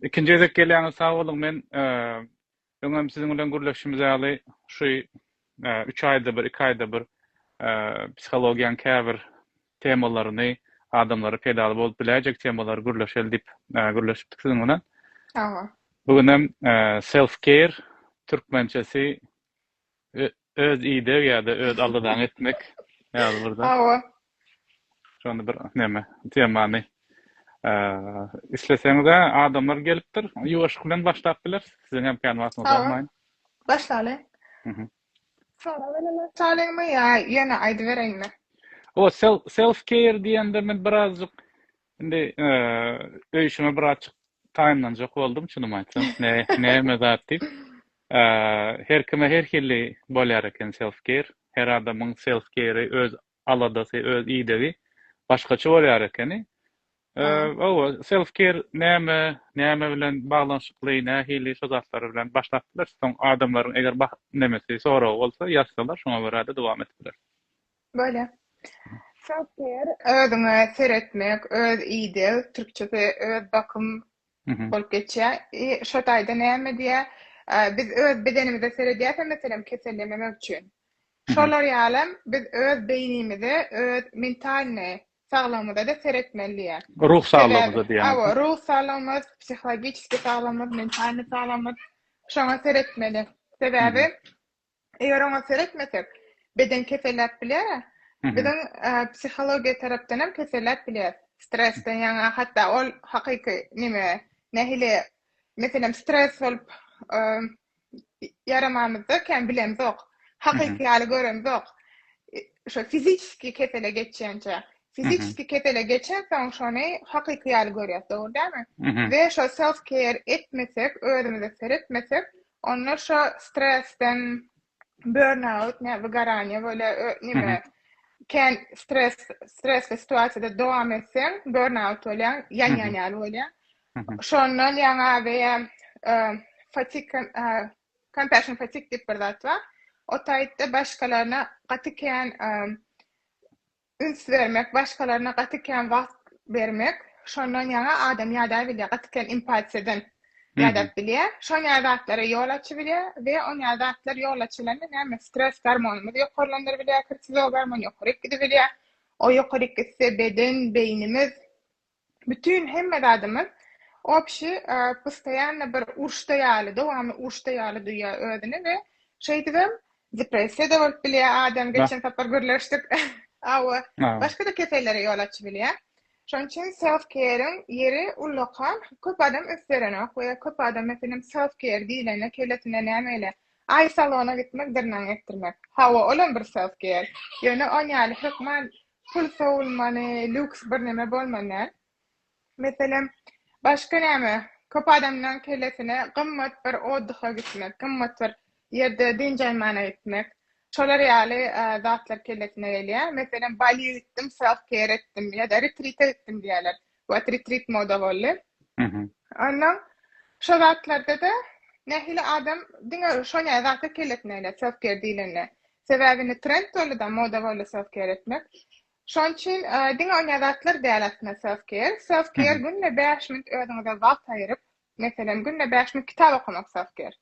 Ikinji gezek gelýäňiz sag boluň men öňem siziň bilen gürleşişimiz ýaly şu üç aýda bir iki aýda bir psihologiýaň käbir temalaryny adamlara peýdaly bolup biläýjek temalary gürleşeli diýip gürleşipdik siziň bilen bu günem self care türkmençesi Öz ideg ýa-da öz aldadan etmek ýaly bir zat. Hawa. Şonda bir neme, temany isleseňiz-ä adamlar gelipdir. Ýuwaşlyk bilen başlap bileris. Siziň hem kän wagtyňyzy almaýyn. Başlalyň. Mhm. Sora bilen başlalyňmy ýa ýöne aýdybereýinmi? O self care diýende men birazjyk Indi öýşüme bir açyk taýynlanjak boldum çynymy aýtsam. Ne, näme zat diýip. Her kime her hili bolýar eken self care. Her adamyň self care-i öz aladasy, öz idegi başgaça bolýar ekeni. Owa, self care näme, näme bilen baglanyşykly, nähili şu zatlar bilen başlap bileris. Soň adamlaryň eger nemesi soragy bolsa, ýazsalar şoňa görä-de dowam edip bileris. Böyle. Şahyr özüňe seretmek, öz ideg, türkçesi öz bakym bolup geçýär. E, şo taýda näme diýýär? Biz öz bedenimize seredýäs, meselem, kesellememek üçin. Şolar ýaly biz öz beýnimize, öz mentalny saglygymyza-da seretmeli diýýär. Ruh saglygymyza diýýär. Awa, ruh saglygymyz, psihologiki saglygymyz, mentalny saglygymyz şoňa seretmeli. Sebäbi Eger oňa seretmesek, beden keselläp biler, biziň psihologiýa tarapdan hem keselläp biler. Stresden ýaňa hatda ol hakyky neme, nähili, meselem, stres bolup ýaramamyzda kän bilemzok, hakyky ýaly göremzok. Şo fizisiki kesele geçýänçä, fizisiki kesele geçensoň şony hakyky ýaly görýäs, dogry dälmi? We şo self care etmesek, özümize seretmesek, Onda şo stresden burnout, ne wygaranie bolýar, ö, nime, ken stres, stresli situasiýada dowam etseň, burnout bolýar, ýanýan ýaly bolýar. Şondan ýaňa beýe, ö, fatik, ö, compassion fatik diýip bir zat bar. O taýtda başgalaryna gaty kän, ö, Üns bermek, başgalaryna gaty kän wagt bermek, şondan ýaňa adam ýadap bilýär, gaty kän empatiýadan ýadap bilýär. Şon ýaly zatlara ýol açybilýär we on ýaly zatlar ýol açylanda näme stres gormonymyzy ýokarlandyrybilýär, kortizol gormony ýokaryk gidibilýär. O ýokaryk gitse beden, beýnimiz Bütin hemme zadymyz obşi postoýanno bir uruşda ýaly, dowamly uruşda ýaly duýýar özüni we şeýdibem depressiýa-da bolup bilýär adam, geçen sapar gürleşdik, hawa, başga-da kesellere ýol açyp bilýär. Şonuň üçin self-care-iň ýeri ullaka, köp adam üns berenok we köp adam meselem self-care diýlende kellesinde näme gele, aý salona gitmek, dyrnagyňy ekdirmek. Hawa, olam bir self-care, ýöne on ýaly hökman Pul sowulmany, lýuks birneme bolman däl. Meselem, başga näme? Köp adamlaň kellesine gymmat bir otdyha gitmek, gymmat bir ýerde dynç almana gitmek, şolar ýaly zatlar kellesine gelýär. Meselem, Baliýa gitdim, self-care etdim ýa-da retrite gitdim diýýärler. What retreat moda boldy. Ondan şo zatlarda-da nähili adam diňe şo näme zata keletmeýle self-care diýlende. Sebäbi indi trend boldy-da, moda boldy self-care etmek. Şonuň üçin diňe o näme zatlar däl aslynda self-care. Self-care günde bäş minut özüňize wagt aýryp, Meselem, günde bäş minut kitap okamak sagtyr.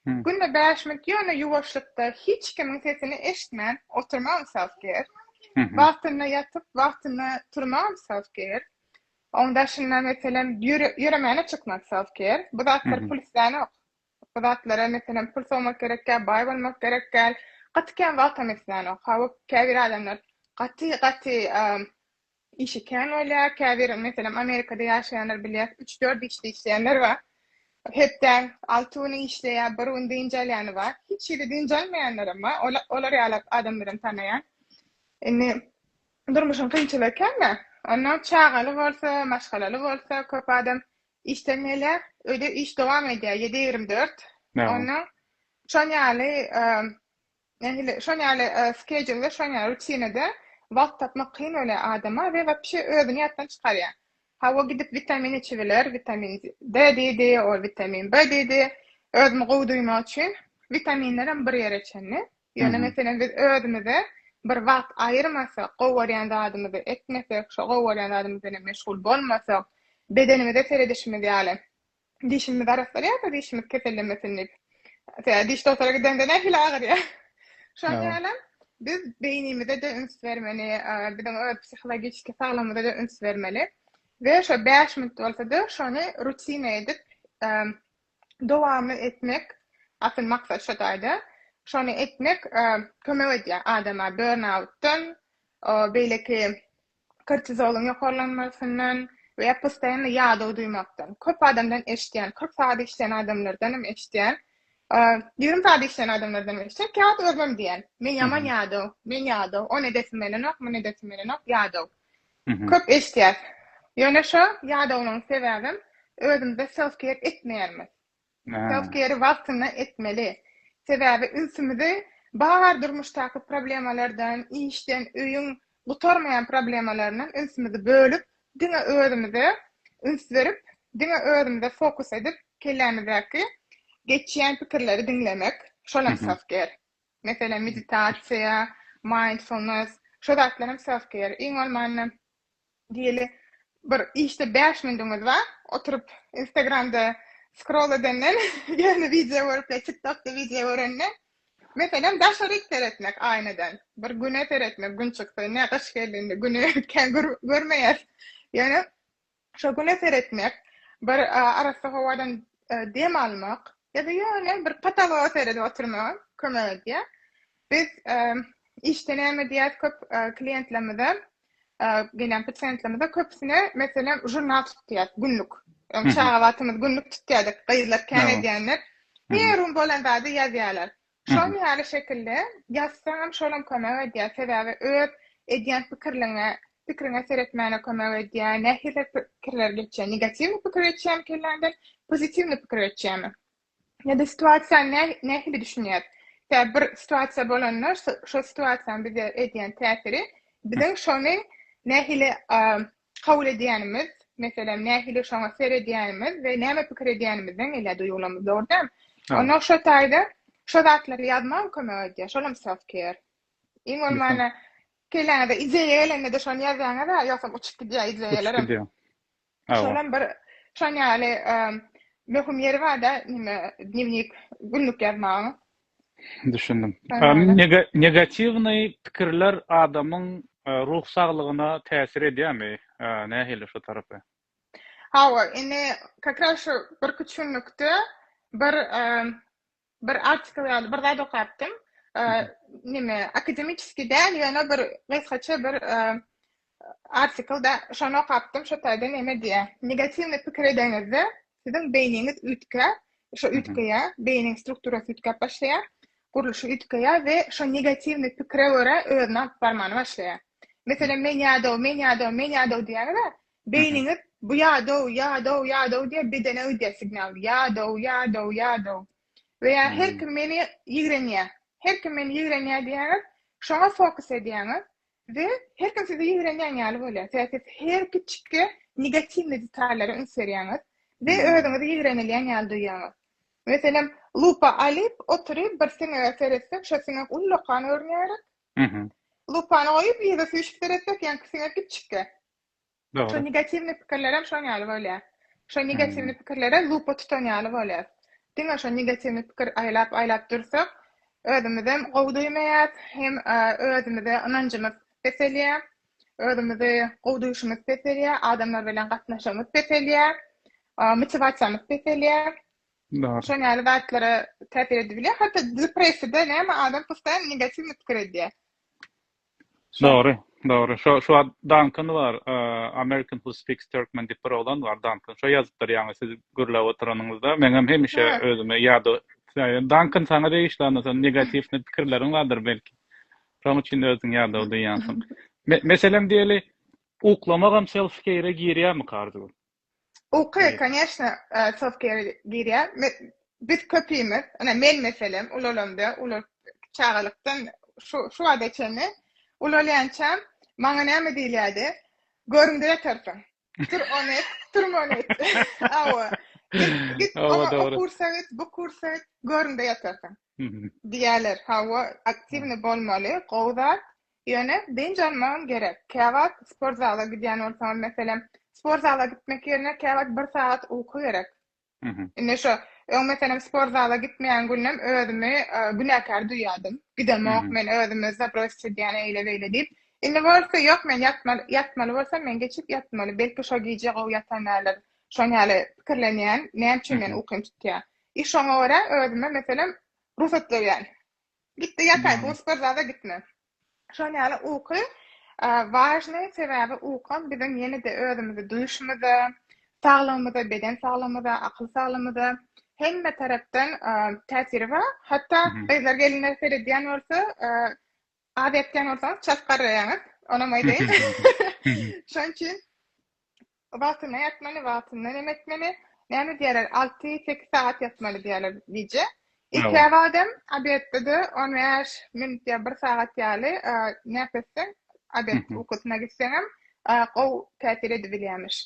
Günde bäş minut ýöne ýuwaşlykda hiç kimiň sesini eşitmän oturmagam sagtyr. Wagtynda ýatyp, wagtynda turmagam sagtyr. Oň daşynda, meselem, ýöremäne çykmak sagtyr. Bu zatlar pul islänok. Bu zatlara, meselem, pul sowmak gerek däl, baý bolmak gerek däl. Gaty kän wagtam islänok. Hawa, käbir adamlar gaty-gaty Işi kän bolýar, käbir, meselem, Amerikada ýaşaýanlar bilýär, üç-dört işde işleýänler bar. Hepdäň alty güni işleýär, bir gün dynç alýany bar. Hiç hili dynç almaýanlaram bar. Ol, olar ýaly adamlaram tanaýan. Indi durmuşyň kynçylygy kän-dä. Onnoň çagaly bolsa, maşgalaly bolsa, köp adam işden gelýär, öýde iş dowam edýär, ýedi ýigrimi dört. Onnoň şon ýaly Nähili şon ýaly skedýulda şon ýaly rutinada wagt tapmak kyn bolýar adama we wapşe özüni ýatdan çykarýar. Hawa gidip witamin içibiler, witamin D diýdi, ol witamin B diýdi. Özümi gowy duýmak üçin witaminlerem bir ýere çenli. Ýöne meselem biz özümize bir wagt aýyrmasak, gowy görýän zadymyzy etmesek, şo gowy görýän zadymyz bilen meşgul bolmasak, bedenimize seredişimiz ýaly, dişimiz arassalýar-da, dişimiz kesellemesin diýip. Tä diş dogtora gidende nähili agyrýar. Şonuň ýaly hem biz beýnimize-de üns bermeli, biziň öz psihologiki saglygymyza-da üns bermeli we şo bäş minut bolsa-da şony rutina edip dowam etmek, asyl maksat şo taýda, şony etmek kömek edýär adama burnout-dan, beýleki kortizolyň ýokarlanmasyndan we postaýanly ýadaw duýmakdan. Köp adamdan eşidýän, kyrk sagat işleýän adamlardanam eşidýän, ýigrimi sagat işleýän adamlardanam eşidýän, käwagt özümem diýýän, men ýaman ýadaw, men ýadaw, ony edesim gelenok, muny edesim gelenok, ýadaw. Köp eşidýäs. Ýöne şo ýadawlygyň sebäbem özümizde self-care etmeýänimiz. Self-care-i wagtynda etmeli. Sebäbi ünsümizi bar durmuşdaky problemalardan, işden, öýüň gutarmaýan problemalaryndan ünsümizi bölüp, diňe özümize üns berip, diňe özümize fokus edip, kellämizdäki geçýän pikirleri diňlemek, şol hem self-care. Meselem, meditasiýa, mindfulness, şo zatlar hem self-care. Iň bolmanda, Diýeli bir işde bäş minüdiňiz bar, oturyp instagramda skrol edenden, ýöne wideo görüp ýa tik tokda wideo görenden, meselem daşaryk seretmek aýnadan, bir güne seretmek gün çyksa, ine gyş geldi indi güni kän görmeýäs, ýöne şo güne seretmek, bir arassa howadan dem almak, ýa-da ýöne bir potologa seredip oturmaga kömek edýär. Biz işde näme diýýäs köp klientlerimize, gelýän pasiýentlerimize köpüsine meselem žurnal tutýas günlük. Öň çaga wagtymyz günlük tutýardyk, gyzlar kän edýänler. Herum bolan zady ýazýarlar. Şol ýaly şekilde ýazsaňam şolam kömek edýär. Sebäbi öz edýän pikirliňe, pikriňe seretmäne kömek edýär. Nähili pikirler geçýär? Negatiwny pikir geçýärmi kelläňden, pozitiwny pikir geçýärmi? Ýa-da situasiýany nä, nähili düşünýäs? Tä bir situasiýa bolanda, şo situasiýanyň bize edýän täsiri, biziň şony nähili kabul edýänimiz, meselem, nähili şoňa seredýänimiz we näme pikir edýänimizden gelýär duýgularymyz, dogry däl? Ondan şo taýda şo zatlary ýazmagam kömek edýär, şolam self-care. Iň bolmanda, kelläňize ideýa gelende-de şony ýazýaňyz-a, ýogsam uçup gidýär ideýalarym. Şolam bir şon ýaly möhüm ýeri barda neme dnewnik günlük ýazmagyň. Düşündim. Negatiwnyý pikirler adamyň ruh saglygyna täsir edýärmi? Nähili şu tarapy? Hawa, indi kakras şu birküç günlükde bir Bir artikl ýaly bir zat okapdym. Nime, akademiçeski däl, ýöne bir gysgaça bir artikl da şony okapdym, şo taýda neme diýýär. Negatiwny pikir edeňizde, siziň beýniňiz üýtgär, şo üýtgeýär, beýniň strukturasy üýtgäp başlaýar, gurluşy üýtgeýär we şo negatiwny pikire görä özüni alyp barmany başlaýar. Meselem, men ýadaw, men ýadaw, men ýadaw diýýäňiz-ä, Beýniňiz bu ýadow, ýadow, ýadow diýip bedene gidýär signal. Ýadow, ýadow, ýadow. We ýa her kim meni ýigrenýär. Her kim meni ýigrenýär diýýäňiz. Şoňa fokus edýäňiz we her kim sizi ýigrenýän ýaly bolýar. Sebäbi siz her kiçikki negatiwnyý detallara üns berýäňiz we özüňizi ýigrenilýän ýaly duýýaňyz. Meselem, lupa alyp oturyp bir siňege seretsek, şo siňek ullakan görünýär. Lupany goýup ýüze süýşüp seretsek, ýaňky siňek kiçikkä. Dogry. Şo negatiwnyý pikirlerem şoň ýaly bolýar. Şo negatiwnyý pikirlere lupa tutan ýaly bolýas. Diňe şo negatiwnyý pikir aýlap aýlap dursak, özümizem gowy duýmaýas, hem özümize ynanjymyz peselýär, özümizi gowy duýşumyz peselýär, adamlar bilen gatnaşygymyz peselýär, motiwasiýamyz peselýär. Dogry. Şoň ýaly zatlara täsir edip bilýär. Hatda depressiýada näme adam postaýan negatiwnyý pikir edýär. Dogry, dogry. Şo, şo Duncan bar, American who speaks Turkmen diýip bir oglan bar, Duncan. Şo ýazypdyr ýaňy siz gürläp oturanyňyzda. Meňem hemişe özüme ýada, Duncan saňa degişli onda sen negatiw pikirleriň bardyr belki. Şoň üçin özüň ýadaw diýýänsiň. Meselem diýeli, uklamagam self care girýärmika Arzuw? Uky, koneşne, çok ýere girýär. Biz köpimiz, ine men meselem ulalamda, ula çagalykdan şu şu wagta çenli ulalýança maňa näme diýilýärdi? Görüňde ýatarsyň. Tur ony et, turma ony et. Awa. Git, oňa o kursa git, bu kursa git, görüňde ýatarsyň. Diýerler. Hawa, aktiwny bolmaly, gowy zat. Ýöne dynç almagam gerek. Käwagt sport zala gidýän bolsaňam, meselem, sport zala gitmek ýerine käwagt bir sagat uky gerek. Indi şo öň meselem sport zala gitmeýän günüm özümi günäkär duýýardym. Gidemok men özümi zabrosýt edýän eýle-beýle diýip. Indi bolsa ýok men ýatmaly, ýatmaly bolsam men geçip ýatmaly. Belki şo gije gowy ýatanärler. Şon ýaly pikirlenýän, näme üçin meni ukym tutýar. I şoňa görä özüme meselem rugsat berýän. Gitdi ýataý, bu sport zala gitme. Şol ýaly uky wažnyý, sebäbi ukam biziň ýene-de özümizi duýuşymyza, saglygymyza, beden saglygymyza, akyl saglygymyza hemme tarapdan täsiri bar. Hatda gyzlar gelinler seredýän bolsa, az ýatýan bolsaňyz çalt garraýaňyz, onam aýdaýyn. Şonuň üçin Wagtynda ýatmaly, wagtynda neme etmeli. Näme diýerler, alty-sekiz sagat ýatmaly diýerler gije. Ilkiräk adam obedde-de on bäş minut ýa bir sagat ýaly nap etseň, obed ukusyna gitseňem gowy täsir edibilýärmiş.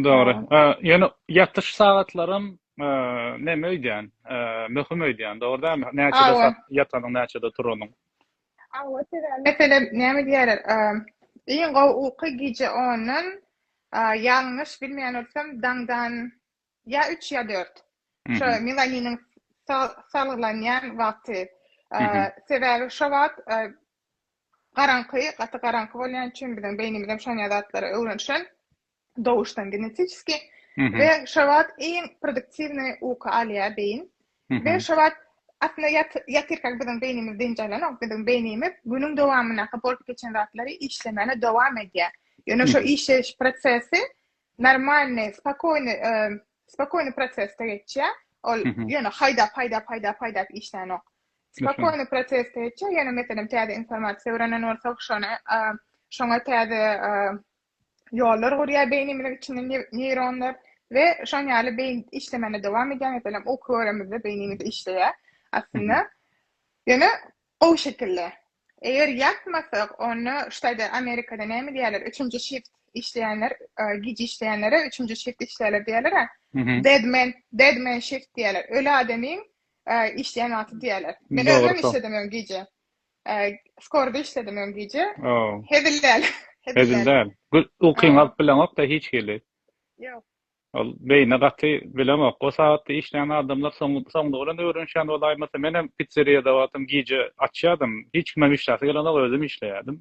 Dogry. Ýöne ýatyş sagatlaram neme öýdýän, möhüm öýdýän, dogry dälmi? Näçede ýatanyň, näçede turanyň. Hawa sebäbi meselem näme diýýärler iň gowy uky gije ondan ýalňyş bilmeýän bolsam daňdan ýa üç ýa dört şo milaniniň salgylanýan wagty sebäbi şo wagt garaňky gaty garaňky bolýan üçin biziň beýnimizem şonýa zatlara öwrenişen dowuşdan genetiski we şobat iň produktiwny uky alýar beýin we şobat aslynda ýatyrka biziň beýnimiz dynç alanok biziň beýnimiz günüň dowamyndaky bolup geçen zatlary işlemegine dowam edýär ýöne şo işleýiş prosesi normalny spokoýny spokoýny prosesde geçýär ol ýöne haýdap haýdap haýdap haýdap işlänok spokoýny prosesde geçýär ýöne meselem täze informasiýa öwrenen bolsak şony şoňa täze ýollar gurýar beýnimiziň içinde neýronlar we şoň ýaly beýin işlemegini dowam edýär meselem uky göremizde beýnimiz işleýär aslynda ýöne gowy şekilde eger ýatmasak onda ştaýda amerikada näme diýýärler üçünji şift işleýänler gije işleýänlere üçünji şift işleýärler diýerler deadman deadman şift diýerler öli adamyň işleýän wagty diýerler men özüm işledim gije Skorda işledim öň gije. Hezil däl. Hezil däl. Ukyň alyp bileňok-da hiç hili. Ýok. Ol beýne gaty bilemok. O sagatda işleýän adamlar soňlugy bilen öwrenişýän bolaýmasa, men hem pitserýada wagtym gije açýardym. Hiç kimem işläsi gelenok, özüm işleýärdim.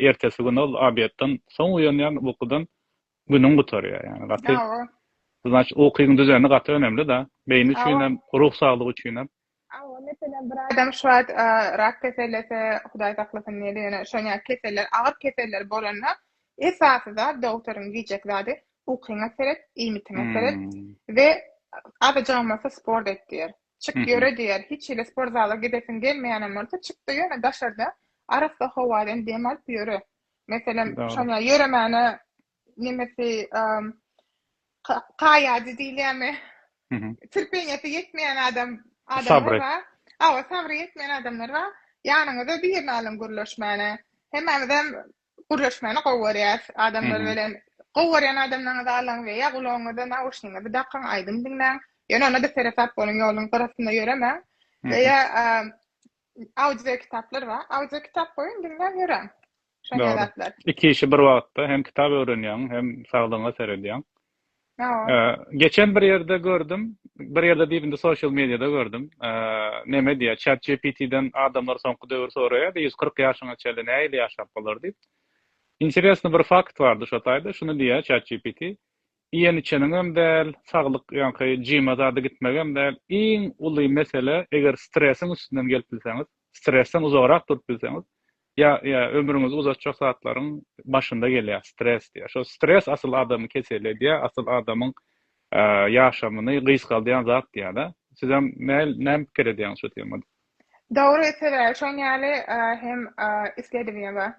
Ertesi gün ol obedden soň uýanýan ukudan günüň gutarýar. Ýani gaty. Ukyň düzeni gaty önemli-de. Beýni üçin hem, ruh saglygy üçin hem. Hawa, meselem, bir adam şu wagt rak kesellese, Hudaý saklasyn, ýene-ýene şon ýaly keseller, agyr keseller bolanda, esasy zat dogtoryň diýjek zady, ukyňa seret, iýmitiňe seret we azajygam bolsa sport et diýer. Çyk ýöre diýer. Hiç hili sport zala gidesiň gelmeýänem bolsa, çyk-da ýöne daşarda arassa howadan dem alyp ýöre. Meselem, şon ýaly ýöremäne nemesi kaýajy diýilýärmi? Terpeniýeti ýetmeýän adam adamlar bar. Awa, sabry ýetmeýän adamlar bar. Ýanyňyza birini alyň gürleşmäne. Hemmämizem gürleşmäni gowy görýäris. Adamlar bilen gowy görýän adamlaryňyzy alyň we ýa gulagyňyza nauşnigiňizi dakyň, aýdym diňläň. Ýöne onda-da seresap boluň, ýoluň gyrasynda ýöremäň. Ýa-da audiokitaplar bar. Audiokitap goýuň, diňläp ýöräň. Şonýa zatlar. Iki işi bir wagtda hem kitap öwrenýäň, hem saglygyňa seredýäň. Geçen bir ýerde gördüm, bir ýerde diýip indi sosial mediýada gördüm. Neme diýýär, ChatGPT-den adamlar soňky döwür soraýardy, ýüz kyrk ýaşyňa çenli nähili ýaşap bolar diýip. Interesni bir fakt bardy şo taýda, şuny diýýär ChatGPT, Iýen-içeniňem däl, saglyk ýaňky jyma zada gitmegem däl. Iň uly mesele eger stresiň üstünden gelip bilseňiz, stresden uzagrak durup bilseňiz, ýa ýa ömrüňizi uzatjak zatlaryň başynda gelýär stres diýýär. Şo stres asyl adamy kesel edýär, asyl adamyň ýaşamyny gysgaldýan zat diýýär-de. Sizem näl näme pikir edýäňiz şu temada? Dogry sebäbi şoň ýaly hem isledibem bar.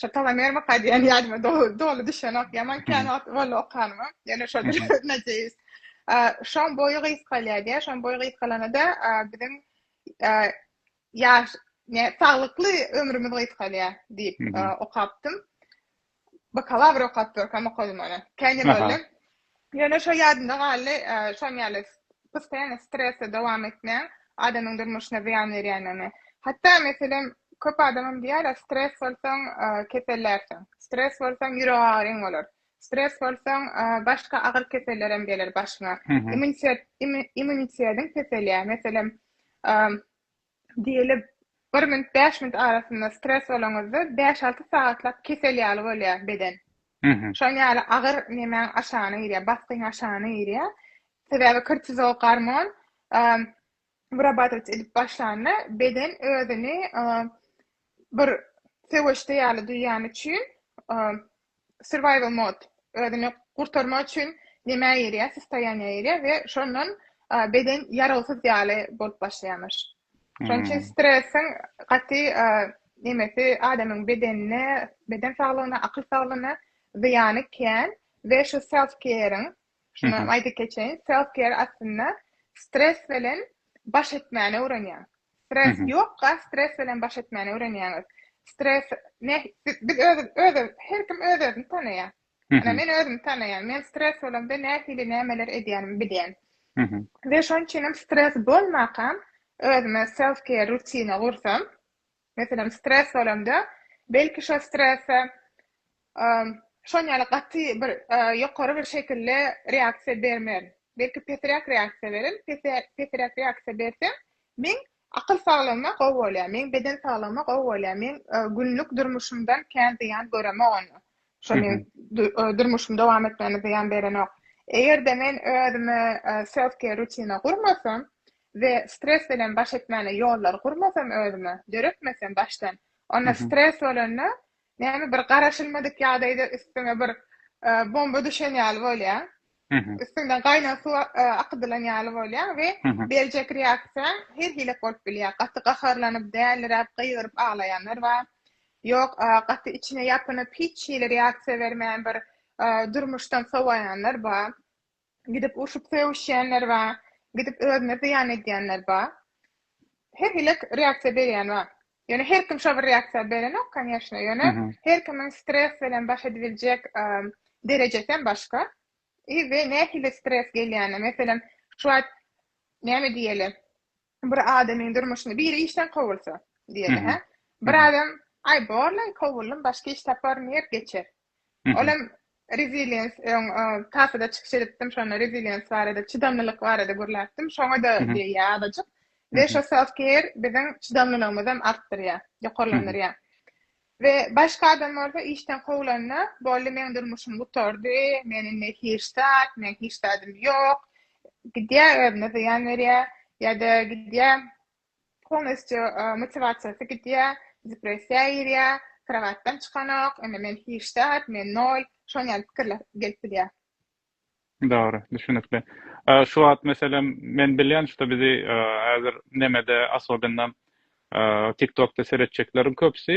Şu Talamer waka diýen ýadyma doly düşenok. Ýaman kän wagt boldy okanyma. Ýene şol najeýis. Şoň boýy gysgalýar diýär. Şoň boýy gysgalanda biziň ýaş, saglykly ömrümiz gysgalýar diýip okapdym. Bakalawr okap durkam okadym ony. Kän ýyl boldy. Ýöne şo ýadymda galdy, şoň ýaly postaýany stresde dowam etmegiň adamyň durmuşyna zyýan berýändigini. Hatda, meselem, köp adamam diýýärler, stres bolsaň, kesellärsiň, stres bolsaň, ýürek agyryň bolar, stres bolsaň, başga agyr kesellerem geler başyňa, immunitetiň peselýär. Meselem, Diýeli, bir minut, bäş minut arasynda stres bolaňyzda bäş-alty sagatlap kesel ýaly bolýar beden. Şonuň ýaly agyr nemäň aşagyna girýär, basgyň aşagyna girýär. Sebäbi kortizol gormon wyrabatować edip başlanda beden özüni bir söweşde ýaly duýýany üçin Survival mode, özüni gurtarmak üçin nemä girýär, sostoýaniýa girýär we şondan beden ýarawsyz ýaly bolup başlaýarmyş. Şonuň üçin stresiň gaty nemesi adamyň bedenine, beden saglygyna, akyl saglygyna zyýany kän we şu self-care-iň, Şonda aýdyp geçeýin, self care aslynda stres bilen baş etmäni öwrenýär. Stres ýokka, stres bilen baş etmäni öwrenýäňiz. Stres ne biz öz öz her kim öz özüni tanaýar. Ýa men özümi tanaýan, men stres bolamda nähili nämeler edýänimi bilýän. We şonuň üçin hem stres bolmakam özüme self care rutina gursam, Meselem, stres bolanda, belki şo strese şon ýaly gaty bir ýokary bir şekilli reaksiýa bermerin. Belki pesiräk reaksiýa berin, pesiräk reaksiýa bersem, meň akyl saglygyma gowy bolýar, meň beden saglygyma gowy bolýar, meň günlük durmuşymdan kän zyýan göremok onda. Şo meň durmuşymy dowam etmegime zyýan berenok. Eger-de men özüme self care rutina gurmasam, We stres bilen baş etmäne ýollary gurmasam özüme, döretmesem başdan, onda stres bolanda näme bir garaşylmadyk ýagdaýda üstüňe bir bomba düşen ýaly bolýaň. Üstüňden gaýnan suw akydylan ýaly bolýaň we berjek reaksiýaň her hili bolup bilýär. Gaty gaharlanyp, däliräp, gygyryp aglaýanlar bar. Ýok, gaty içine ýapynyp, hiç hili reaksiýa bermän bir durmuşdan sowaýanlar bar. Gidip urşup sögüşýänler bar, gidip özüne zyýan edýänler bar. Her hili reaksiýa berýän bar. Ýöne her kim şo bir reaksiýa berenok, konýeşne. Ýöne her kimiň stres bilen baş edibiljek derejesi hem başga. I we nähili stres gelýänini, meselem, şu wagt näme diýeli, Bir adamyň durmuşyny biri işden kowulsa, diýeli, hä? Bir adam, aý, borlaý, kowuldym, başga iş taparyn diýip geçer. Ol hem reziliens, öň tapada çykyş edipdim, şonda reziliens barada, çydamlylyk barada gürläpdim. Şoňa-da deýýär azajyk. We şo self-care biziň çydamlylygymyzy hem artdyrýar, ýokarlandyrýar. We başga adam bolsa işden kowlanda, boldy meň durmuşym gutardy, men indi hiç zat, meň hiç zadym ýok, gidýä özüne zyýan berýä, ýa-da gidýä polnostýu motiwasiýasy gidýä, depressiýa girýä, krowatdan çykanok, indi men hiç zat, men nol, şon ýaly pikirler gelip bilýä. Dogry, düşünikli. Şu wagt meselem men bilýän şu bizi häzir nemede asobinda tiktokda seretjekleriň köpüsi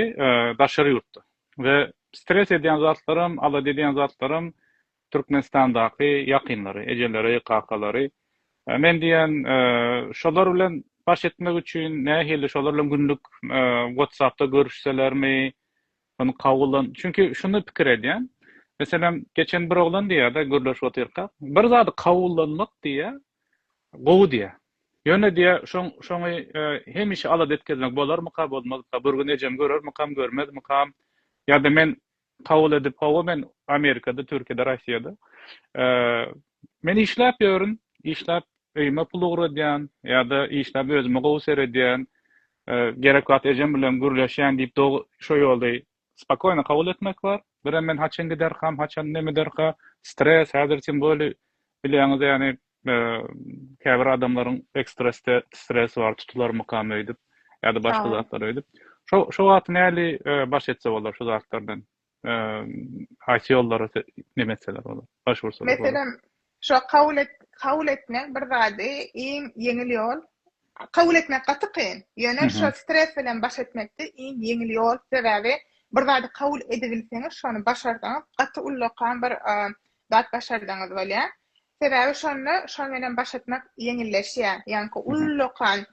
daşary ýurtda we stres edýän zatlaram alada edýän zatlaram Türkmenistandaky ýakynlary ejeleri kakalary men diýýän şolar bilen baş etmek üçin nähili şolar bilen günlük whatsappda görüşselermi Ony kabullan. Çünki şuny pikir edýän. Meselem, geçen bir oglan diýýär-de, gürleşip otyrkak, Bir zady kabullanmak diýýär, gowy diýýär. Ýöne diýýär, şoň, şoňy hemişe alada etkezmek bolarmyka, bolmazka, bir gün ejem görermikam, görmezmikam? Ýa-da men kabul edip, hawa, men Amerikada, Türkiýede, Rossiýada, men işläp ýörün, işläp öýüme pul ugradýan ýa-da işläp özüme gowy seredýän, Gerek wagt ejem bilen gürleşýän diýip dogy şo ýolda spokoýno kabul etmek bar. Birem men haçan giderkam, haçan nem ederka, stres, häzir tim boli bilýäňiz ýany käbir adamlaryň ekstresde stres bar tutularmykam öýdüp ýa-da başga zatlar öýdüp. Şo wagt näli baş etse bolar şu zatlardan? haýsy ýollara neme etseler bolar, başwursalar bolar? Meselem, şo kabul et, kabul etmek bir zady iň ýeňil ýol. Kabul etmek gaty kyn. Ýöne şo stres bilen baş etmekde iň ýeňil ýol. Sebäbi bir zady kabul edibilseňiz, şony başarsaňyz, gaty ullakan bir zat başardygyňyz bolýar. Sebäbi şonda şoň bilen baş etmek ýeňilleşýär. Ýaňky ullakan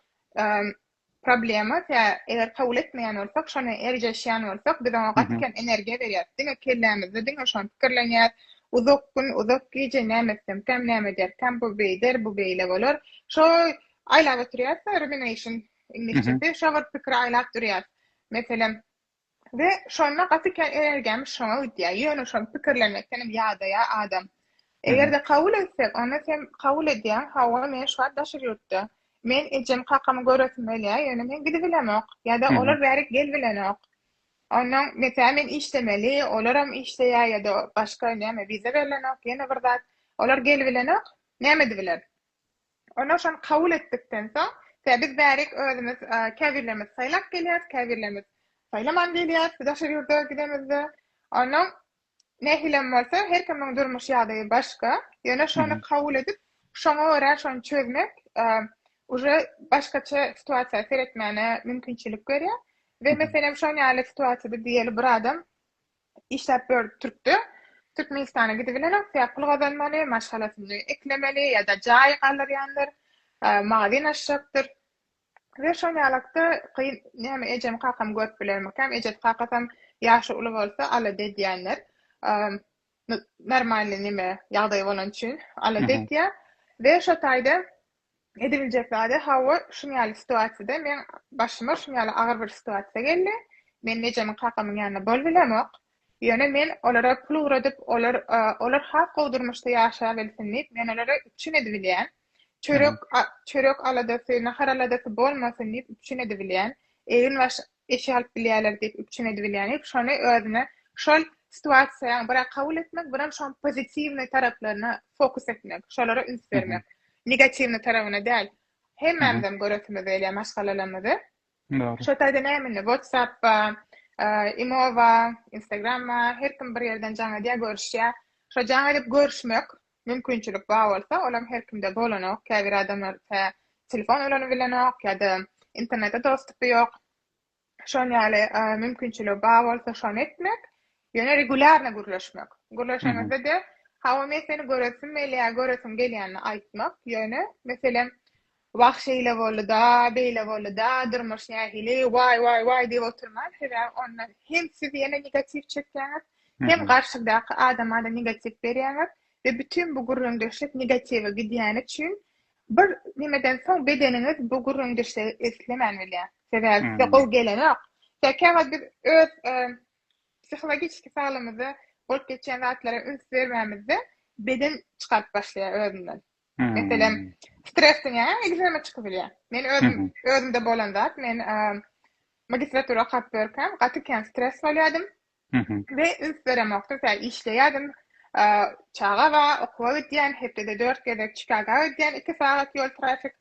Problema tä eger kabul etmeýän bolsak, şony erjeşýän bolsak, biz oňa gaty kem energiýa berýäris. Diňe kellämizde diňe şony pikirlenýäris. Uzak gün, uzak gije näme etsemkäm, näme ederkäm, bu beýder, bu beýle bolar. Şo aýlap oturýas-da, rumination iňlisçesi, şo bir pikiri aýlap durýas. Meselem, We şonda gaty kän energiýamyz şoňa gidýär. Ýöne şony pikirlemekdenem ýadaýar adam. Eger-de kabul etsek, onda sen kabul edýäň, hawa, men şu wagt daşary ýurtda. Men ejemi, kakamy göresim gelýär, ýöne men gidibilemok. Ýa-da olar bärik gelbilenok. Onda, meselem, men işlemeli, olaram işleýär ýa-da başga näme, wiza berlenok, ýene bir zat. Olar gelbilenok, näme edibiler? Onda şony kabul etdikden soň, tä biz bärik özümiz käbirlerimiz saýlap gelýäris, käbirlerimiz saýlaman gelýäris daşary ýurda gidemizde. Onuň nähilem bolsa, her kimiň durmuş ýagdaýy başga. Ýöne şony kabul edip, şoňa görä şony çözmek uje başgaça situasiýa seretmäne mümkinçilik berýär. We meselem şon ýaly situasiýada diýeli bir adam Işläp ýör Türkde. Türkmenistana gidibilen aksyýap pul gazanmaly, maşgalasyny eklemeli ýa-da jaýy galdyrýandyr, magazin açjakdyr. We şol ýalakda kyn näme ejem kakam görüp bilermikäm, ejesi kakasam ýaşy uly bolsa alada edýänler. Normalny neme ýagdaýy bolan üçin alada edýär. We şo taýda Edibiljek zady, hawa, şunuň ýaly situasiýada meň başyma şunuň ýaly agyr bir situasiýa geldi. Men ejemiň, kakamyň ýanynda bolup bilemok. Ýöne men olara pul ugradyp, olar, olar has gowy durmuşda ýaşaýabilsin diýip, men olara üpjün edibilýän. Çörek, çörek aladasy, nahar aladasy bolmasyn diýip üpjün edibilýän. Egin-baş eşik alyp bilýärler diýip üpjün edibilýän ýok. Şony özüne şol situasiýaň birä kabul etmek, birem şoň pozitiwnyý taraplaryna fokus etmek, şolara üns bermek. Negatiwnyý tarabyna däl. Hemmämizem göresimiz gelýär maşgalalarymyzy. Dogry. Şo taýda näme indi WhatsApp-a, imo-a, Instagram-a, her kim bir ýerden jaň edýär, görüşýär. Şo jaň edip görüşmek, Mümkinçilik bar bolsa, olam her kimde bolanok, käbir adamlar tä telefon ulanyp bilenok ýa-da internete dostupy ýok. Şon ýaly mümkinçiligi bar bolsa şony etmek, ýöne regulýarno gürleşmek. Gürleşeňizde-de, hawa men seni göresim gelýär, göresim gelýänini aýtmak, ýöne meselem Wah şeýle boldy-da, beýle boldy-da, durmuş nähili, waý, waý, waý diýip oturman, sebäbi onda hem siz ýene negatiw çekýäňiz, hem garşyňdaky adama-da negatiw berýäňiz we bütin bu gürrüňdeşlik negatiwe gidýäni üçin bir nimeden soň bedeniňiz bu gürrüňdeşligi islemän bilýär. Sebäbi size gowy gelenok. Ýa käwagt biz öz psihologiki saglygymyza bolup geçýän zatlara üns bermänimizde beden çykaryp başlaýar özünden. Meselem, stres diňäň egzema çykyp bilýär. Men özüm özümde bolan zat, men magistratura okap görkem, gaty kän stres bolýardym. We üns beremokdym, sen işleýärdim. Çaga ba, okuwa gidýän, hepdede 4 gezek Çikaga gidýän, 2 sagat ýol trafik.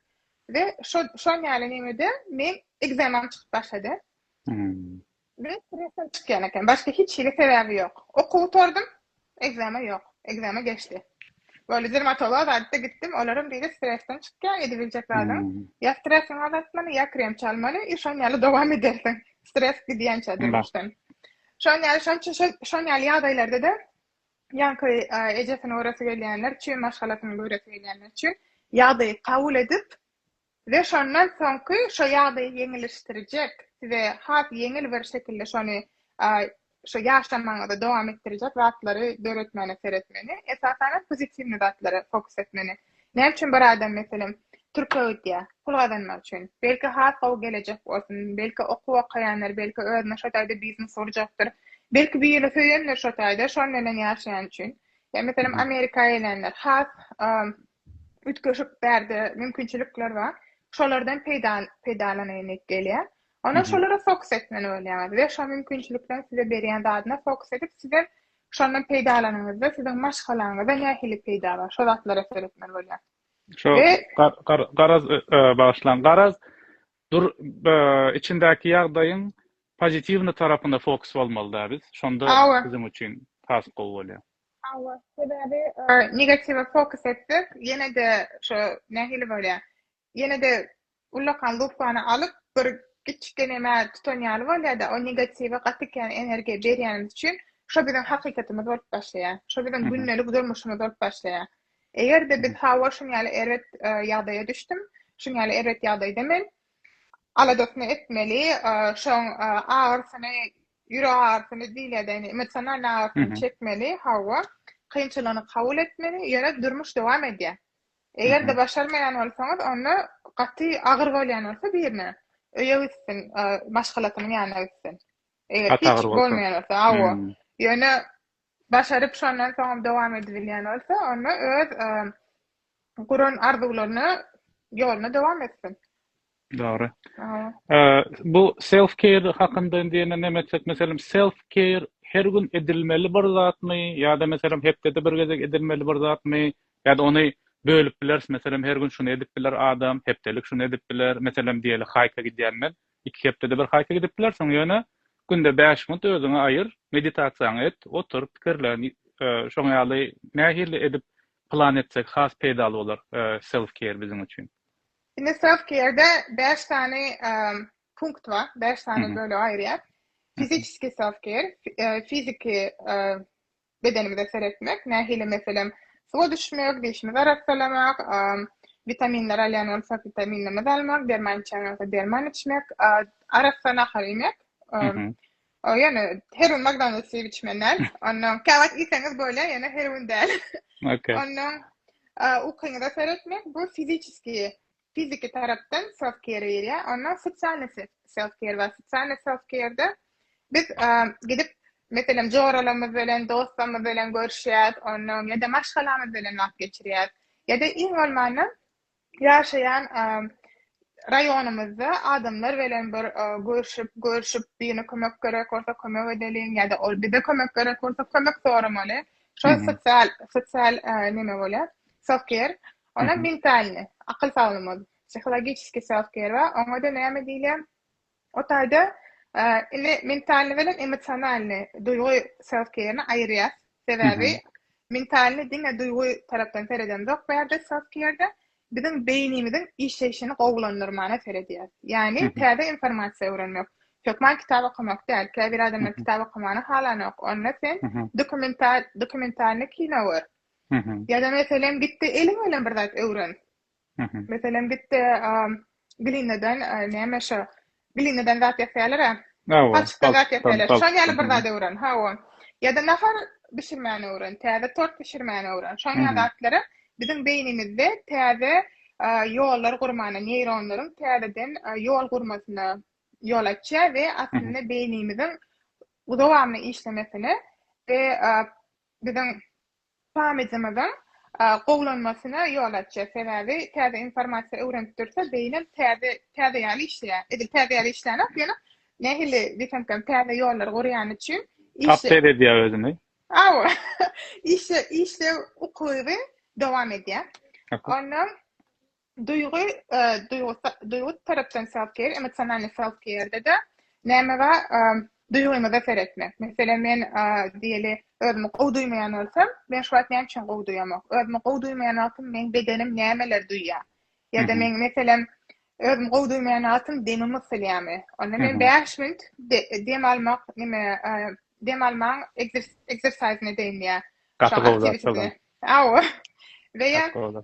We şo şo näle näme de men egzema çykyp başlady. Biraz stressden çykýan eken. Başga hiç hili sebäbi ýok. Okuw gutardym. Ekzame ýok. Ekzame geçdi. Böyle dermatologa zatda gitdim. Olaram diýdi stressden çykýan edibiljek zadyň. Ýa stressiňi azaltmaly, ýa krem çalmaly i şon ýaly dowam edersiň. Stress gidýänçä durmuşdan. Şon ýaly şon üçin şon ýaly ýagdaýlarda-da ýaňky ejesini göresi gelýänler üçin, maşgalasyny göresi gelýänler üçin ýagdaýy kabul edip Size şondan soňky şo ýagdaýy ýeňilleşdirjek, size has ýeňil bir şekilde şony şo ýaşamagyňyzy dowam etdirjek zatlary döretmäne seretmeli. Esasanam pozitiwny zatlara fokus etmeli. Näme üçin bir adam meselem türke gidýär? Pul gazanmak üçin. Belki has gowy gelejek bolsun, belki okuw okaýandyr, belki özüne şo taýda biznes gurjakdyr. Belki birini söýendir şo taýda, şonuň bilen ýaşaýan üçin. Ýa meselem Amerika gelenler has üýtgeşik bärde mümkinçilikler bar. Şolardan peýdalanaýyn diýip gelýär. Ondan şolara fokus etmeli bolýaňyz we şo mümkinçilikleriň size berýän zadyna fokus edip, siz hem şondan peýdalanyňyzda siziň maşgalaňyza nähili peýda bar, şo zatlara seretmeli bolýaňyz. Şo garaz, bagyşlaň, garaz dur içindäki ýagdaýyň pozitiwny tarapyna fokus bolmaly-da biz, şonda biziň üçin has gowy bolýar. Hawa, sebäbi negatiwa fokus etsek, ýene-de şo nähili bolýar? Ýene-de ullakan lupany alyp, bir kiçi gelemä tutan ýaly bolýar-da, o negatiwa gaty kän energiýa berýänimiz üçin, şo biziň hakykatymyz bolup başlaýar. Şo biziň gündelik durmuşymyz bolup başlaýar. Eger-de biz hawa şuň ýaly erbet ýagdaýa düşdüm, şuň ýaly erbet ýagdaýda men, aladasyny etmeli, şoň agyrsyny Ýürek agyrysyny diňledeni, emosional agyrysyny çekmeli, hawa, kynçylygyny kabul etmeli, ýöne durmuş dowam edýär. Eger-de başarmaýan bolsaňyz, onda gaty agyr bolýan bolsa birine, öýe gitsin, maşgalasynyň ýanyna gitsin. Eger hiç bolmaýan bolsa, hawa. Ýöne başaryp şondan soňam dowam edibilýän bolsa onda öz guran arzuwlaryna ýoluna dowam etsin. Dogry. Bu self care hakynda indi ýene näme etjek meselem self care her gün edilmeli bir zatmy ýa-da meselem hepdede bir gezek edilmeli bir zatmy ýa-da ony bölüp bileris meselem her gün şuny edip biler adam hepdelik şuny edip biler meselem diýeli haýka gidýän men Iki hepdede bir haýsy gidip biler, soň ýöne günde bäş minut özüňe aýyr, meditasiýaňy et, otur, pikirlen, şoň ýaly nähili edip plan etsek has peýdaly bolar self care biziň üçin. Indi self care-de bäş sany punkt bar, bäş sany bölege aýyrýar. Fiziçiski self care, fiziki bedenimize seretmek, nähili meselem, suwa düşmek, dişimizi arassalamak, witaminleri alýan bolsak, witaminlerimizi almak, derman içýän bolsak, derman içmek, arassa nahar iýmek, ýöne her gün McDonald's iýip içmeli däl. Ondan käwagt iýseňiz bolýar, ýöne her gün däl. Ondan ukyňyza seretmek, bu fiziçiskiý Fiziki tarapdan self care berýär, onda sosialny self care bar. Sosialny self care-de biz gidip, meselem, joralarymyz bilen, dostlarymyz bilen görüşýäs, ondan ýa-da maşgalamyz bilen wagt geçirýäs. Ýa-da iň bolmanda ýaşaýan raýonymyzda adamlar bilen bir görşüp, görşüp, birine kömek gerek bolsa kömek edeliň ýa-da ol bize kömek gerek bolsa kömek soramaly. Şol sosial, sosial neme bolýar, self care. Onam mentalnyý, akyl saglyma, psihologiçeskiý self-care bar, oňa-da näme diýilýär? O taýda indi mentalnyý bilen emosionalnyý, duýgy self-care-ni aýyrýas. Sebäbi mentalnyý diňe duýgy tarapdan seredemzok bu ýerde self-care-de, biziň beýnimiziň işleýşini gowulandyrmana seredýäs. Ýagny täze informasiýa öwrenmek, hökman kitap okamak däl. Käbir adamlar kitap okamany halanok. Onda sen dokumental, dokumentalnyý kino gör. Ýa-da meselem gitde eliň bilen bir zat öwren. Meselem gitde glinnadan näme şo glinnadan zat ýasaýarlar-a. Paçykdan zat ýasaýarlar. Şoň ýaly bir zat öwren. Hawa. Ýa-da nahar bişirmäni öwren, täze tort bişirmäni öwren. Şoň ýaly zatlara biziň beýnimizde täze ýollar gurmana, neýronlaryň täzeden ýol gurmasyna ýol açýar we aslynda beýnimiziň dowamly işlemesine we biziň sammitimiziň gowulanmasyna ýol açýar. Sebäbi täze informasiýa öwrenip dursa, beýnem täze, täze ýaly işleýär. Edil täze ýaly işlänok, ýöne nähili diýsemkäm, täze ýollary gurýany üçin işe. Update edýär özüni. Hawa, işe, işlew ukyby dowam edýär. Ondan. Duýgy duýgy tarapdan self care, emosionalnyý self care-de näme bar? Duýgymyza seretmek. Meselem men diýeli özümi gowy duýmaýan bolsam, men şu wagt näme üçin gowy duýamok? Özümi gowy duýmaýan wagtym meň bedenim nämeleri duýýar? Ýa-da men meselem özümi gowy duýmaýan wagtym demim gysylýarmy? Onda men bäş minut dem almak nime dem almaň ekzersizyny edeýin ýa. Gaty gowy zat şol. Hawa. We ýa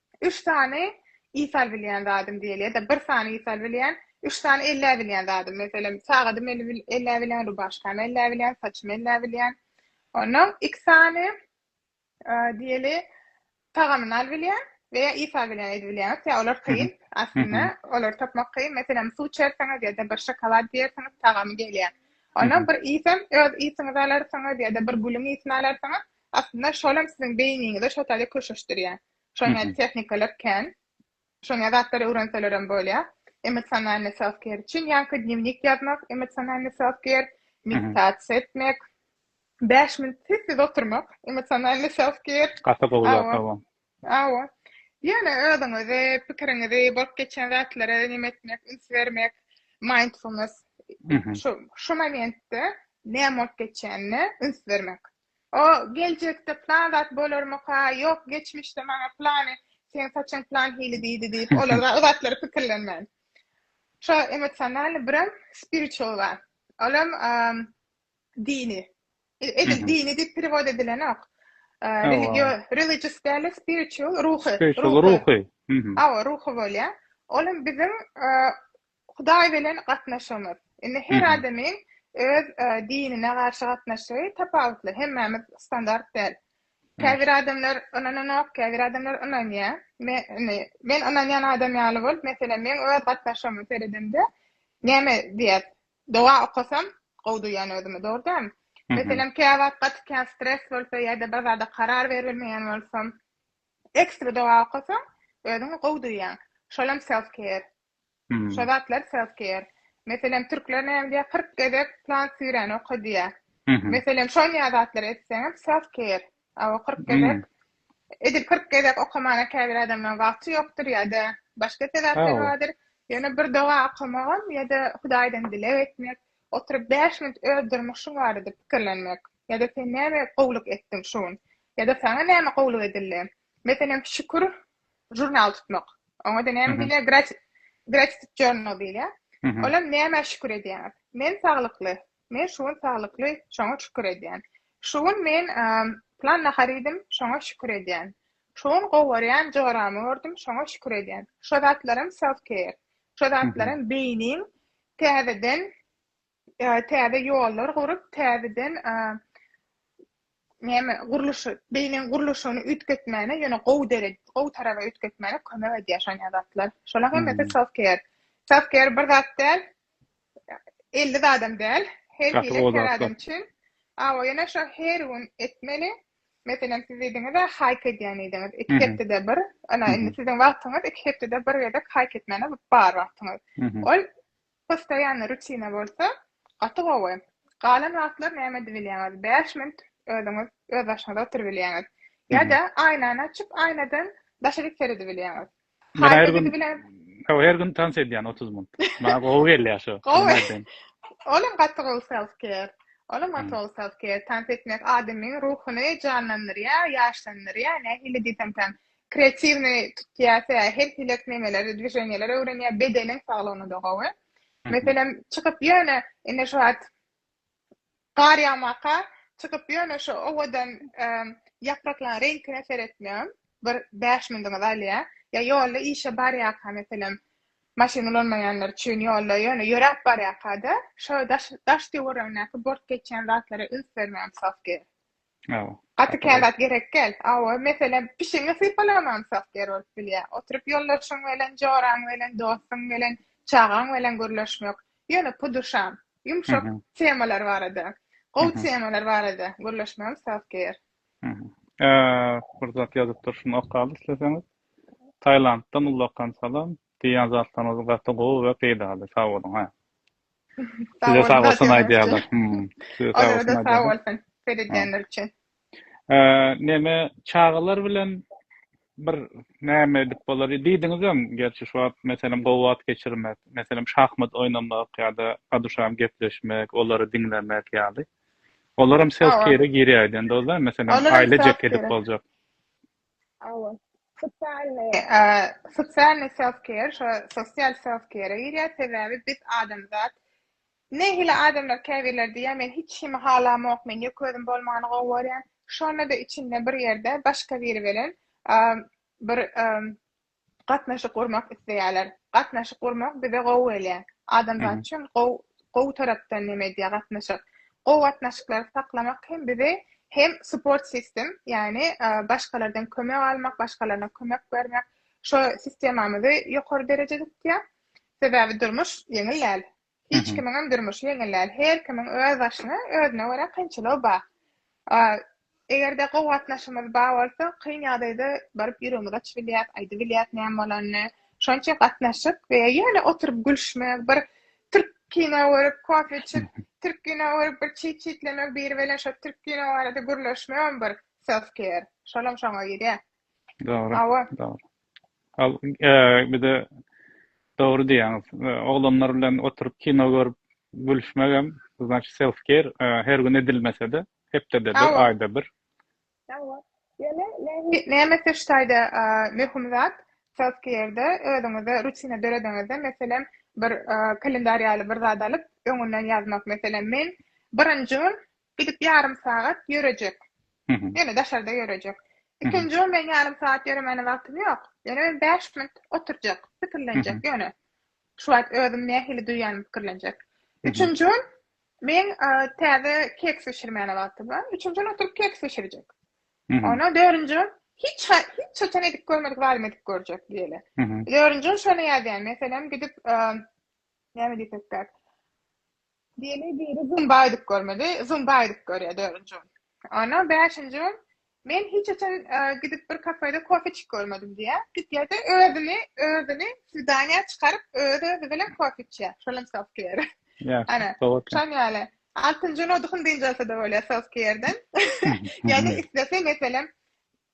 Üç sany isal bilýän zadym diýeli ýa-da bir sany isal bilýän, üç sany elläp bilýän zadym. Meselem, sagadymy el elläp bilýän, rubaşkamy elläp bilýän, saçymy elläp bilýän. Onnoň iki sany diýeli tagamyny al bilýän we ýa isal bilýän edip bilýän zat ýa olar kyn aslynda olary tapmak kyn. Meselem, suw içersiňiz ýa-da bir şokolad diýersiňiz tagamy gelýär. Onnoň bir isem öz isiňizi alarsyňyz ýa-da bir gülüň isini alarsyňyz. Aslynda şolam siziň beýniňizi şo taýda köşeşdirýär. Şoňa tehnikalar kän. Şoňa zatlary öwrenselerem bolýar. Emosionalnyý self-care üçin ýaňky dnewnik ýazmak, emosionalnyý self-care, meditasiýa etmek, bäş minut sessiz oturmak, emosionalnyý self-care. Gaty gowy zatlar bu. Hawa. Ýöne özüňizi, pikiriňizi, bolup geçen zatlara neme etmek, üns bermek, mindfulness, şo şo momentde näme bolup geçýänine üns bermek. O, Geljekde plan zat bolarmyka? Ýok, geçmişde maňa plany, seň saçyň plan hili diýdi diýip, olar o zatlary pikirlenmän. Şo emosionalnyý birem spiritual bar. Olam dini. Edil dini diýip perewod edilenok. Religio, religious däl-de spiritual, ruhy. Spiritual ruhy. Awa, ruhy bolýar. Olam biziň Hudaý bilen gatnaşygymyz. Indi her adamyň öz dinine garşy gatnaşygy tapawutly. Hemmämiz standart däl. Käbir adamlar ynananok, käbir adamlar ynanýar. Men ynanýan adam ýaly bolup, meselem, meň öz gatnaşygyma seredemde, näme diýýär? Doga okasam, gowy duýýan özümi, dogry dälmi? Meselem, käwagt gaty kän stres bolsa ýa-da bir zada karar berilmeýän bolsam, ekstra doga okasaň, özüňi gowy duýýaň. Şolam self-care. Şo zatlar self care. Meselem türkler näme diýýär kyrk gezek plan süýräni oka diýýär. Meselem şonýa zatlar etseňem self care. A o kyrk gezek edil kyrk gezek okamana käbir adamlaň wagty ýokdur ýa-da başga sebäpler bardyr. Ýöne bir doga okamagam ýa-da hudaýdan dileg etmek, oturyp bäş minut öz durmuşyň barada pikirlenmek ýa-da sen näme gowluk etdiň şu gün ýa-da saňa näme gowluk edildi. Meselem, Şükür žurnal tutmak. Oňa da näme diýilýär? Grati gratitude journal diýilýär. Mhm. Olam nämä şükür edýäňiz? Men saglykly. Men şu gün saglykly, şoňa şükür edýän. Şu gün men em, plan nahar iýdim, şoňa şükür edýän. Şu gün gowarýan joramy gördüm, şoňa şükür edýän. Şu zatlar hem self-care. Şu zatlar hem beýniň täzeden täze ýollar gurup, täzeden näme, gurluş, beýniniň gurluşygyny üýtgetmäne, ýöne gowy dere, gowy taraba üýtgetmäne kömek edýär şon ýadatlar. Şolar hem meta self care. Self care bir zat däl, 50 zadam däl. Her Gaty hili gowy her zatlar. adam üçin. Awa, ýöne şo her gün etmeli. Meselem, siz diýdiňiz-ä, haýk edýän diýdiňiz. Iki Mhm. hepdede bir, ana, indi Mhm. siziň wagtyňyz iki hepdede bir gezek haýk etmäne bar wagtyňyz. Mhm. Ol Postoýanny rutina bolsa, gaty gowy. Galan wagtlar näme edibilýäňiz? Bäş minut özüňiz özbaşyňyza oturybilýäňiz. Ýa-da aýnany açyp, aýnadan daşaryk seredibilýäňiz. Men her gün, hawa, her gün tans edýän otuz minut. Maňa gowy gelýär şo. Gowy. Olam gaty gowy self-care. Olam gaty gowy self-care. Tans etmek adamyň ruhuny janlandyrýar, ýaşlandyrýar. Nähili diýsemkäm, kreatiwny tutýarsa her hilek nemeleri dwiženýeleri öwrenýär bedeniň saglygyna da gowy meselem çykyp ýöne indi şu wagt gar ýagmaka çykyp ýöne şu owadan ýapraklaryň reňkine seretmem bir bäş minutiňizi alýar ýa ýolda işe barýarka meselem maşyn ulanmaýanlar üçin ýolda ýöne ýöräp barýarka-da şo daş daş töweregindäki bort geçýän zatlara üns bermegem sowky Hawa. Gaty kä zat gerek gel. Hawa, meselem, pişiňi sypalamansak ýer bolup bilýä. Oturyp ýoldaşyň belen, joraň belen, dostuň belen, çagaň belen gürleşmek. Ýöne puduşam, ýumşak temalar barada, gowy temalar barada gürleşmegem zat ger. Bir zat ýazypdyr, şuny okaly isleseňiz. Tailanddan ullakan salam. Diýýän zatlaryňyz gaty gowy we peýdaly. Sag boluň. Size sag bolsun aýdýarlar. Size sag bolsun. Seredýänler üçin. Neme çagalar bilen bir näme edip bolar? Diýdiňizem, gerçi şu wagt meselem gowy wagt geçirmek, meselem şahmat oýnamak ýa-da aduşam gepleşmek, olary diňlemek ýaly. Olaram self-care-e girýär aýdan dogry, meselem aýlajak edip boljak. Hawa. Sosialny, sosialny self care, şo sosial self care-e girýär, sebäbi biz adamzat nähili adamlar käbirleri diýýär, men hiç kimi halamok, men ýeke özüm bolmany gowy görýän, şonda-da içinde bir ýerde başga biri bilen bir gatnaşyk gurmak isleýärler. Gatnaşyk gurmak bize gowy gelýär. Adamzat üçin gowy gowy tarapdan neme edýär gatnaşyk. Gowy gatnaşyklary saklamak hem bizi hem support system, ýagny başgalardan kömek almak, başgalarna kömek bermek, şo sistemamyzy ýokary derejede tutýar. Sebäbi durmuş ýeňil däl. Hiç kimiňem durmuşy ýeňil däl. Her kimiň öz başyna, özüne görä kynçylygy bar. Eger-de gowy gatnaşygymyz bar bolsa, kyn ýagdaýda baryp ýüregimizi açyp bilýäris, aýdyp bilýäris näme bolanyny. Şonuň üçin gatnaşyk we ýöne oturyp gülüşmek, bir türk kino görüp, kofe içip, türk kino görüp, bir çit-çitlemek, biri bilen şo türk kino barada gürleşmegem bir self-care. Şolam şoňa girýär. Dogry. Awa. Dogry. Al, e, bir de dogry diýýäňiz. E, oglanlar bilen oturyp kino görüp gülüşmek hem, значит, self care e, her gün edilmese-de, hepdede bir, Awa. aýda bir. Awa. Ýöne näme- näme seçtäýde e, möhüm zat self care-de özüňize rutina dörediňizde, meselem, bir e, kalendar ýaly bir zat alyp, öňünden ýazmak, meselem, men birinji gün Gidip ýarym sagat ýörejek. Ýöne daşarda ýörejek. Ikinji ol men ýarym sagat ýöremäne wagtym ýok. Ýöne men bäş minut oturjak, pikirlenjek ýöne. Şu wagt özüm nähili duýýanymy pikirlenjek. Üçünji gün meň täze keks bişirmäne wagtym bar. Üçünji gün oturyp keks bişirjek. Ondan dördünji gün hiç hiç haçan edip görmedik zadymy edip görjek diýeli. Dördünji gün şony ýazýan. Meselem gidip näme diýsek gerek. Diýeli biri zumba aýdyp görmedi, zumba aýdyp görýär dördünji gün. Ondan bäşinji gün men hiç haçan e, gidip bir kafede kofe içip görmedim diýýär. Gidýär-de özüni, özüni swidaniýa çykaryp, öz özi bilen kofe içýär. Şolam self care. Ýa, Ana, sowatly. şoň ýaly. Altynjy gün oduhyn dynç alsa-da bolýar self care'den. Ýa-da islese, meselem,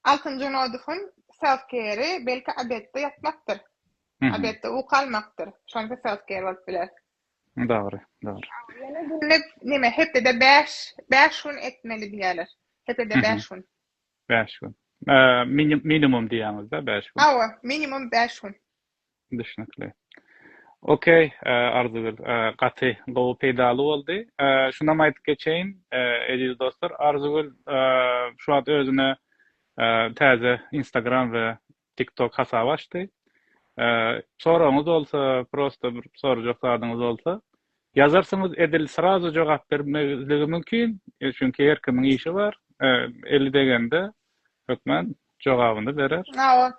Altyn Junodowyň self-care-i belki obedde ýatmakdyr. Obedde uky almakdyr. Şonda self-care bolup biler. Dogry, dogry. Ýöne günlük näme, hepdede bäş, bäş gün etmeli diýýärler. Hepdede bäş gün. Bäş gün. Minimum diýýäňiz-dä, bäş gün. Hawa, minimum bäş gün. Düşnükli. Ok Arzygül gaty gowy peýdaly boldy. Şunam aýdyp geçeýin eziz dostlar Arzygül şu wagt özüne täze instagram we tiktok hasaby açdy. Soragyňyz bolsa prosta bir sorajak zadyňyz bolsa ýazarsyňyz edil srazu jogap bermezligi mümkin çünki her kimiň işi bar eli degende hökman jogabyny berer. Hawa.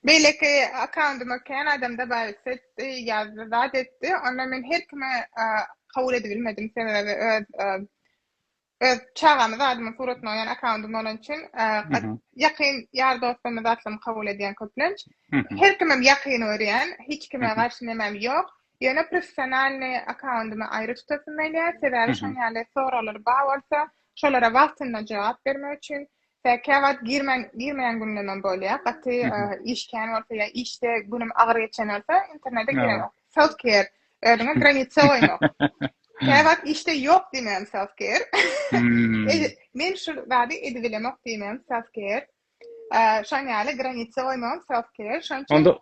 Beýleki akkauntuma kän adamda bar etdi, ýazdy, zat etdi. Onda men her kime kabul edibilmedim. Sebäbi öz öz çagamy zadymyň suratyny goýan akkauntym bolan üçin ýakyn ýar dostumy zatlarymy kabul edýän köplenç. Her kimem ýakyn görýän, hiç kime garşy nemem ýok. Ýöne professionalny akkauntymy aýry tutasym gelýär. Sebäbi şoň ýaly soraglar bar bolsa, şolara wagtynda jogap bermek üçin Säkiä wagt girmän girmeýän günlemem bolýar. Gaty iş kän bolsa ýa işde günüm agyr geçen bolsa internete giremok. Self care özüňe granitsa goýmak. Kä wagt işde ýok diýmän self care. Men şu zady edip bilemok diýmän self care. Şoň ýaly granitsa goýmagam self care. Şoň üçin Onda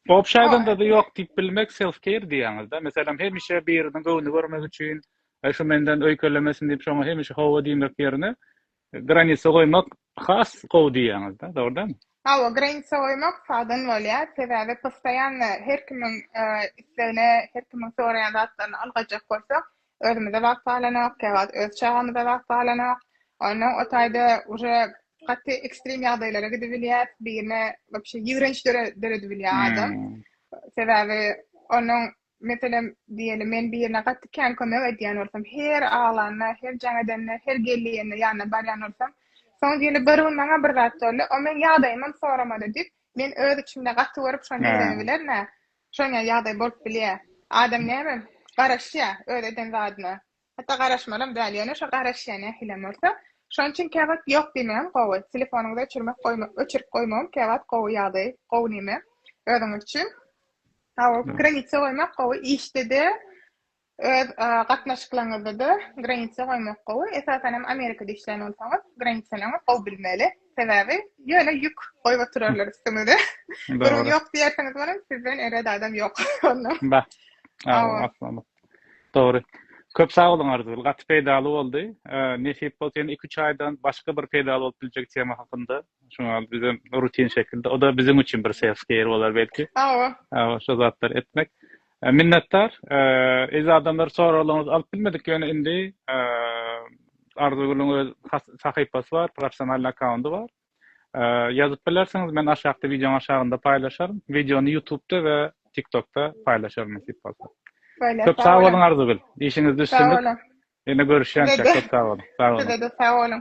obşaýdanda da ýok diýip bilmek self care diýýäňizde. Meselem hemişe biriniň göwni görmek üçin şu menden öýkelemesin diýip şoňa hemişe hawa diýmek ýerine Granisa goýmak has gowy diýýäňizda, dogry dälmi? Hawa, granisa goýmak sagdyn bolýar, sebäbi postoýanno her kimiň islegine, her kimiň soraýan zatlaryna ylgajak bolsak, özümize wagt galanok, käwagt öz çagamyza wagt galanok. Onda o taýda uje gaty ekstrem ýagdaýlara gidibilýär, birine wobşe ýigrenç döredibilýär adam. Sebäbi onuň Meselem, diýeli, men birine gaty kän kömek edýän bolsam, her aglanda, her jaň edende, her gelýände ýanyna barýan bolsam, soň diýeli, bir gün maňa bir zat boldy, o meň ýagdaýymam soramady diýip, men öz içimde gaty görüp, şony ýigrenebilerin-ä. Şoňa ýagdaý bolup bilýär. Adam näme, garaşýar öz eden zadyna. Hatda garaşmalam däl, ýöne şo garaşýan nähilem bolsa, şonuň üçin käwagt ýok diýmegem gowy. Telefonyňyzy öçürmek goýmak, öçürip goýmagam käwagt gowy ýagdaý, gowy neme özüňiz üçin. Hawa, granitsa goýmak gowy, işde-de, öz gatnaşyklaryňyzda-da granitsa goýmak gowy. Esasan hem Amerikada işleýän bolsaňyz, granitsalaryňyzy gowy bilmeli. Sebäbi ýöne ýük goýup oturarlar üstüňize. Gürrüň ýok diýersiňiz welin, sizden erbet adam ýok onda. Bar. Hawa. Dogry. Köp sag boluň Arzygül. Gaty peýdaly boldy. Nesip bolsa ýene iki-üç aýdan başga bir peýdaly bolup biljek tema hakynda şuňa bizem rutin şekilde. O da biziň üçin bir self care bolar belki. Hawa. Hawa şo zatlary etmek. Minnetdar. Eziz adamlar soraglaryňyzy alyp bilmedik ýöne indi Arzygülüň öz sahypasy bar, professionalnyý akkaundy bar. Ýazyp bilersiňiz, men aşakda wideoň aşagynda paýlaşaryn. Wideony Ýutubda we TikTokda paýlaşaryn nesip bolsa. Köp sag boluň Arzygül. Işiňizde üstünlik. Ýene görüşýänçä köp sag boluň. Sag boluň. Size-de sag boluň.